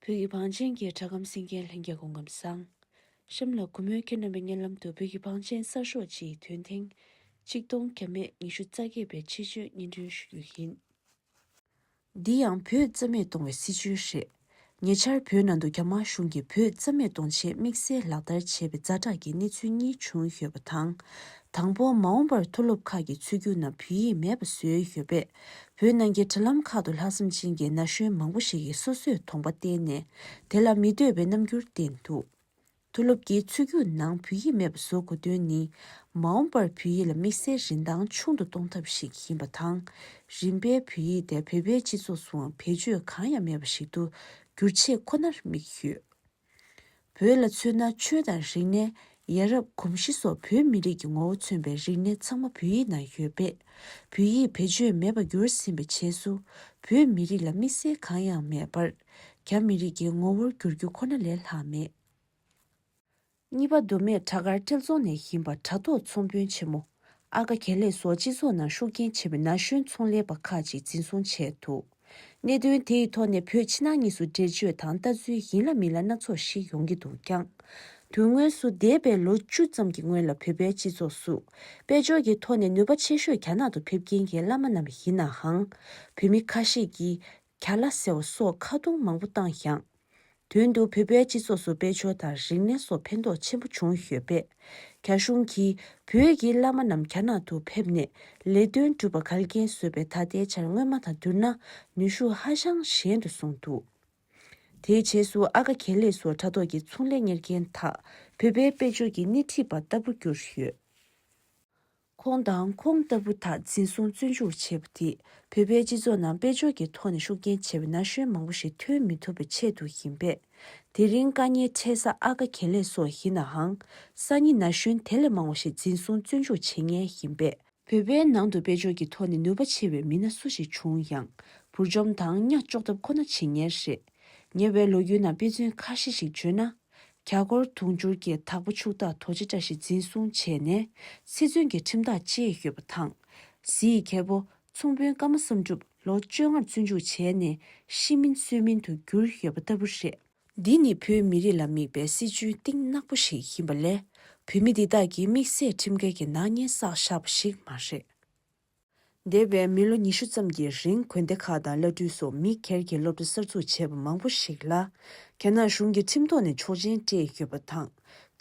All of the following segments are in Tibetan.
བོད་ཀྱི་བང་ཆེན་གྱི་གྲྭ་ཁམས་སེང་གེའི་ལྷན་རྒྱས་སྐོང་སྐབས་བསང་ཤམ་ལ་གུས་མོས་ཁྱེད་རྣམ་པའི་སྙན་ལམ་དུ་བོད་ཀྱི་བང་ཆེན་གསར་ཤོག་སྤྱིའི་དོན་ཐེངས་གཅིག་སྟོང་གྱ་མེད་ཉི་ཤུ་རྩ་བརྒྱད་པའི་ཆེད་བརྗོད་སྙན་སྒྲོན་ཞུ་རྒྱུ་ཡིན། འདི་ཡང་བོད་རྩ་མེད་གཏོང་བའི་སྲིད་བྱུས་རེད། ཉེ་ཆར་བོད་ནང་དུ་རྒྱ་དམར་གཞུང་གིས་བོད་རྩ་མེད་གཏོང་ཆེད་དམིགས་བསལ་ལག་བསྟར་བྱས་པའི་རྫ་དྲག་གི་གནས་ཚུལ་གཉིས་བྱུང་ཡོད་པ་དང། དང་པོ་མ་འོངས་པར་མཐོ་སློབ་ཁག་གི་ཚུད་རྒྱུགས་ནང་བོད་ཡིག་མེད་པ་བཟོས་ཡོད་པས། བོད་ནང་གི་དྲ་ལམ་ཁག་ཏུ་ལྷག་བསམ་ཅན་གྱི་ན་གཞོན་མང་པོ་ཞིག་གིས་སོ་སོས་དོང་པ་བསྟན་ནས་དེ་ལ་མི་འདོད་པའི་རྣམ་འགྱུར་བསྟན་འདུག། མཐོ་སློབ་ཀྱི་ཚུད་རྒྱུགས་ནང་བོད་ཡིག་མེད་པ་བཟོ་དགོས་དོན་ནི། མ་འོངས་པར་བོད་ཡིག་ལ་དམིགས་བསལ་རིན་ཐང་ཆུང་དུ་གཏོང་ཐབས་ཤིག་ཡིན་པ་དང། རིམ་པས་བོད་ཡིག་དེ་བོད་པའི་སྤྱི་ཚོགས་སུའང་བེད་སྤྱོད་གང་ཡང་མེད་པ་ཞིག་ཏུ་འགྱུར་ཆེད་ཁོ་ནར་དམིགས་ཡོད། བོད་ལ་མཚོན་ན་ཆོས་དང་རིག་གནས། ཡ་རབས་གོམས་གཤིས་སོགས་བོད་མི་རིགས་ཀྱི་ངོ་བོ་མཚོན་པའི་རིག་གནས་ཚང་མ་བོད་ཡིག་ནང་ཡོད་པས། བོད་ཡིག་བེད་སྤྱོད་མེད་པར་འགྱུར་ཟིན་པའི་རྗེས་སུ། བོད་མི་རིགས་ལ་དམིགས་བསལ་གང་ཡང་མེད་པར། རྒྱ་མི་རིགས་ཀྱི་ངོ་བོར་འགྱུར་རྒྱུ་ཁོ་ན་ལས་ལྷག་མེད། གཉིས་པ་མདོ་སྨད་བྲག་དཀར་ཐེལ་རྫོང་ནས་ཡིན་པ་དྲ་ཐོག་ཚོང་དཔོན་ཆེན་མོ་ཨ་ཀ་གྱེར་ལེགས་སོགས་སྤྱི་ཚོགས་ནང་ཤུགས་རྐྱེན་ཆེ་བའི་ན་གཞོན་ཚོང་ལས་པ་ཁག་ཅིག་འཛིན་བཟུང་བྱས་འདུག་གནད་དོན་དེ་ཡི་ཐོག་ནས་བོད་ཕྱི་ནང་གཉིས་སུ་འགྲེལ་བརྗོད་དང་ལྟ་ཚུལ་ཡིན་ལ་མིན་ལ་སྣ་ཚོགས་ཤིག་ཡོང་གི་འདུག་ཀྱང། དོན་དངོས་སུ་འདས་པའི་ལོ་བཅུ་ཙམ་གྱི་སྔོན་ལ་བོད་པའི་སྤྱི་ཚོགས་སུ་དཔལ་འབྱོར་གྱི་ཐོག་ནས་ནུས་པ་ཆེ་ཤོས་རྒྱ་ནག་ཏུ་ཕེབས་ཀྱིན་གྱི་བླ་མ་རྣམས་ཡིན་ནའང། བོད་མི་ཁ་ཤས་ཀྱིས་ག་ལ་ཟེར་བ་སོགས་ཁ་རྡུང་མང་པོ་བཏང་ཡང། དོན་དུ་བོད་པའི་སྤྱི་ཚོགས་སུ་དཔལ་འབྱོར་དང་རིག་གནས་སོགས་ཕན་ཐོགས་ཆེན་པོ་བྱུང་ཡོད་པས། རྒྱ་གཞུང་གིས་བོད་ཀྱི་བླ་མ་རྣམས་རྒྱ་ནག་ཏུ་ཕེབས་ནས་ལས་དོན་སྒྲུབ་པར་གལ་འགེལ་བཟོས་པའི་ད་ལྟའི་ཆར་སྔོན་མ་དང་བསྡུར་ན་ནུས་ཤུགས་ཧ་ཅང་ཞན་དུ་སོང་འདུག་དེའི་རྗེས་སུ་ཨ་ཀ་གྱེར་ལེགས་སོགས་དྲ་ཐོག་གི་ཚོང་ལས་གཉེར་མཁན་དག་བོད་པའི་དཔལ་འབྱོར་གྱི་སྣེ་ཁྲིད་པར་ལྟ་བུ་གྱུར་ཡོད། ཁོང་དང་ཁོང་ལྟ་བུ་དག་འཛིན་བཟུང་བཙོན་འཇུག་བྱས་པ་དེས་བོད་པའི་སྤྱི་ཚོགས་ནང་དཔལ་འབྱོར་གྱི་ཐོག་ནས་ཤུགས་རྐྱེན་ཆེ་བའི་ན་གཞོན་མང་པོ་ཞིག་ཐོན་མི་ཐུབ་པའི་ཆེད་དུ་ཡིན་པས། དེ་རིང་བཀའ་ཉན་འཕྲད་ས་ཨ་ཀ་གྱེར་ལས་སོགས་ཡིན་ནའང། སང་ཉིན་ན་གཞོན་དེ་ལས་མང་བ་ཞིག་འཛིན་བཟུང་བཙོན་འཇུག་བྱེད་ངེས་ཡིན་པས། བོད་པའི་ནང་དུ་དཔལ་འབྱོར་གྱི་ཐོག་ནས་ནུས་པ་ཆེ་བའི་མི་སྣ་སུ་ཞིག་བྱུང་ཡང། བུར་འཇོམས་དང་གཉའ་གཅོག་ཐབས་ཁོ་ན་བྱེད་ངེས་རེད། ཉེ་བའི་ལོ་རྒྱུས་ནང་དཔེ་མཚོན་ཁ་ཤས་ཤིག་བརྗོད་ན། གྱ་སྐོར་དུང་ཕྱུར་གྱི་དྭགས་པོ་ཕྱུག་བདག་དོ་ཅེ་བཀྲ་ཤིས་འཛིན་བཟུང་བྱས་ནས་ཚེ་བཙོན་གྱི་ཁྲིམས་ཐག་བཅད་ཡོད་པ་དང། གཟི་ཡི་གྱེར་པོ་ཚོང་དཔོན་བཀའ་མ་བསམ་གྲུབ་ལོ་བཅོ་ལྔར་བཙོན་འཇུག་བྱས་ནས་ཤི་མིན་གསོས་མིན་དུ་གྱུར་ཡོད་པ་ལྟ་བུ་རེད། འདི་ནི་བོད་མི་རིགས་ལ་དམིགས་པའི་སྲིད་བྱུས་གཏིང་ནག་པོ་ཞིག་ཡིན་པ་ལས་བོད་མི་འདི་དག་གིས་དམིགས་བསལ་ཁྲིམས་འགལ་གྱི་ནག་ཉེས་བསགས་བཞག་པ་ཞིག་མ་རེད། འདས་པའི་མི་ལོ་ཉི་ཤུ་ཙམ་གྱི་རིང་དགོན་སྡེ་ཁག་དང་བླ་སྤྲུལ་སོགས་མི་སྒེར་གྱིས་སློབ་གྲྭ་གསར་འཛུགས་བྱས་པ་མང་པོ་ཞིག་ལ། རྒྱ་ནག་གཞུང་གིས་ཁྲིམས་ཐོག་ནས་ཆོག་མཆན་སྤྲད་ཡོད་པ་དང།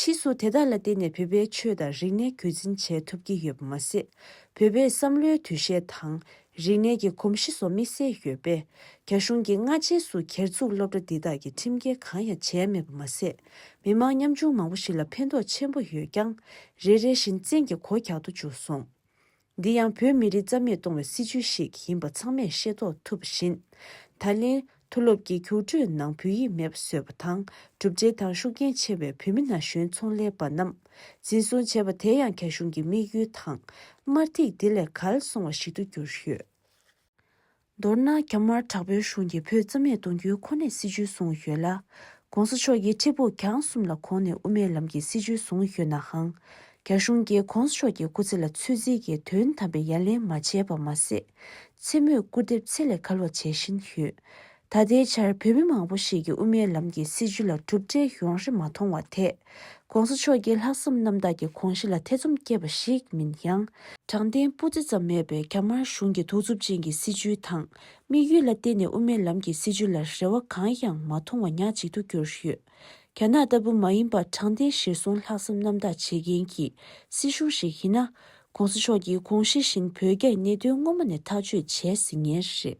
ཕྱིས་སུ་དེ་དག་ལ་བརྟེན་ནས་བོད་པའི་ཆོས་དང་རིག་གནས་རྒྱུད་འཛིན་བྱས་ཐུབ་ཀྱི་ཡོད་པ་མ་ཟད། བོད་པའི་བསམ་བློའི་འདུ་ཤེས་དང། རིག་གནས་ཀྱི་གོམས་གཤིས་སོགས་དམིགས་བསལ་ཡོད་པས། རྒྱ་གཞུང་གིས་སྔ་རྗེས་སུ་གྱེར་འཛུགས་སློབ་གྲྭ་འདི་དག་གིས་ཁྲིམས་འགལ་གང་ཡང་བྱས་མེད་པ་མ་ཟད། མི་མང་ཉམ་ཆུང་མང་པོ་ཞིག་ལ་ཕན་ཐོགས་ཆེན་པོ་ཡོད་ཀྱང། རེ་རེ་བཞིན་བཙན་གྱིས་གོ་རྒྱག་ཏུ་འཇུག་སོང། འདི་ཡང་བོད་མི་རིགས་རྩ་མེད་གཏོང་བའི་སྲིད་བྱུས་ཤིག་ཡིན་པ་ཚང་མས་ཤེས་རྟོགས་ཐུབ་པ་བཞིན། ད་ལན་མཐོ་སློབ་ཀྱི་རྒྱུགས་སྤྲོད་ནང་བོད་ཡིག་མེད་པ་བཟོས་པ་དང་གྲུབ་འབྲས་དང་ཤུགས་རྐྱེན་ཆེ་བའི་བོད་མི་ན་གཞོན་ཚོང་ལས་པ་རྣམས་འཛིན་བཟུང་བྱས་པ་དེ་ཡང་རྒྱ་གཞུང་གི་དམིགས་ཡུལ་དང་དམར་ཐིག་དེ་ལས་གར་སོང་བ་ཞིག་ཏུ་གྱུར་ཡོད། མདོར་ན་རྒྱ་དམར་དྲག་པོའི་གཞུང་གིས་བོད་རྩ་མེད་གཏོང་རྒྱུའི་ཁོ་ནའི་སྲིད་བྱུས་བཟུང་ཡོད་ལ། ྋགོང་ས་མཆོག་གིས་ཁྲི་སྦུག་གྱང་གསུམ་ལ་གོང་ནས་དབུ་མའི་ལམ་གྱི་སྲིད་བྱུས་བཟུང་ཡོད་ནའང། རྒྱ་གཞུང་གིས ྋགོང་ས་མཆོག་གི་སྐུ་ཚེ་ལ་ཚོད་འཛིན་གྱིས་དོན་དམ་པའི་ཡ་ལན་མ་བྱས་པ་མ་ཟད། མཚན་མོས་སྐུར་འདེབས་ཚད་ལས་བརྒལ་བ་བྱེད་བཞིན་ཡོད། ད་ལྟའི་ཆར་བོད་མི་མང་པོ་ཞིག་གིས་དབུ་མའི་ལམ་གྱི་སྲིད་བྱུས་ལ་གྲུབ་འབྲས་ཡོང་རེ་མ་མཐོང་བ་དེས། ྋགོང་ས་མཆོག་གིས་ལྷག་བསམ་རྣམ་དག་གིས ྋགོང་ཞི་ལ་ཐེ་ཚོམ་བསྐྱེད་པ་ཞིག་མིན་ཡང། དྲང་བདེན་སྤུ་རྩེ་ཙམ་མེད་པའི་རྒྱ་དམར་གཞུང་གི་ཐུགས་རྩུབ་ཅན་གྱི་སྲིད་བྱུས་དང་དམིགས་ཡུལ་ལ་བརྟེན་ནས་དབུ་མའི་ལམ་གྱི་སྲིད་བྱུས་ལ་རེ་བ་གང་ཡང་མ་མཐོང་བ་ཉག་ཅིག་ཏུ་གྱུར་ཡོད། རྒྱ་ནག་ལྟ་བུ་མ་ཡིན་པར་དྲང་བདེན་གཞིར་བཟུང་ལྷག་བསམ་རྣམ་དག་བྱེད་མཁན་གྱི་སྲིད་གཞུང་ཞིག་ཡིན་ན། ྋགོང་ས་མཆོག་གིས ྋགོང་ཞི་བཞིན་བོད་རྒྱ་ཡི་གནད་དོན་སྔོན་མ་ནས་ཐག་གཅོད་བྱས་ཟིན་ངེས་རེད།